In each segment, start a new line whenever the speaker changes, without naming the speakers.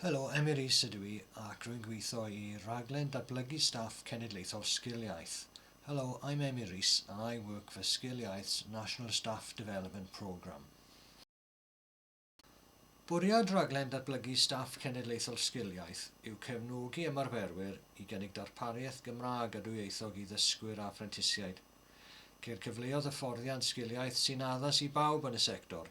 Helo, Emyr Rees ydw i ac rwy'n gweithio i Rhaglen Datblygu Staff Cenedlaethol Sgil Iaith. Hello, I'm Emyr Rees and I work for Sgil Iaith's National Staff Development Programme. Bwriad Rhaglen Datblygu Staff Cenedlaethol Sgil Iaith yw cefnogi ymarferwyr i gynnig darpariaeth Gymraeg a dwyieithog i ddysgwyr a phrentisiaid. Ceir cyfleoedd hyfforddiant Sgil Iaith sy'n addas i bawb yn y sector.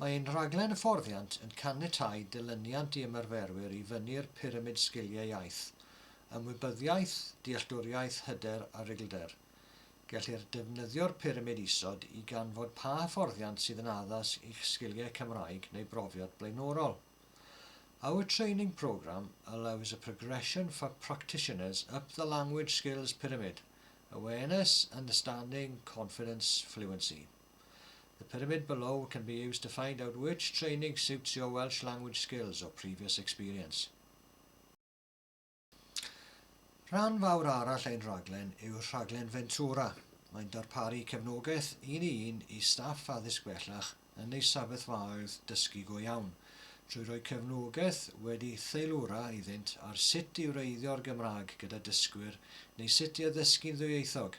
Mae ein rhaglen hyfforddiant yn caniatáu dilyniant i ymarferwyr i fyny'r pyramid sgiliau iaith, ymwybyddiaeth, dealltwriaeth, hyder a rhuglder. Gellir defnyddio'r pyramid isod i ganfod pa hyfforddiant sydd yn addas i'ch sgiliau Cymraeg neu brofiad blaenorol. Our training programme allows a progression for practitioners up the language skills pyramid, awareness, understanding, confidence, fluency. The pyramid below can be used to find out which training suits your Welsh language skills or previous experience. Rhan fawr arall ein rhaglen yw rhaglen Ventura. Mae'n darparu cefnogaeth un i un i staff addysg bellach yn eu sefyllfaoedd dysgu go iawn, trwy roi cefnogaeth wedi theilwra iddynt ar sut i wreiddio'r Gymraeg gyda dysgwyr neu sut i addysgu'n ddwyieithog.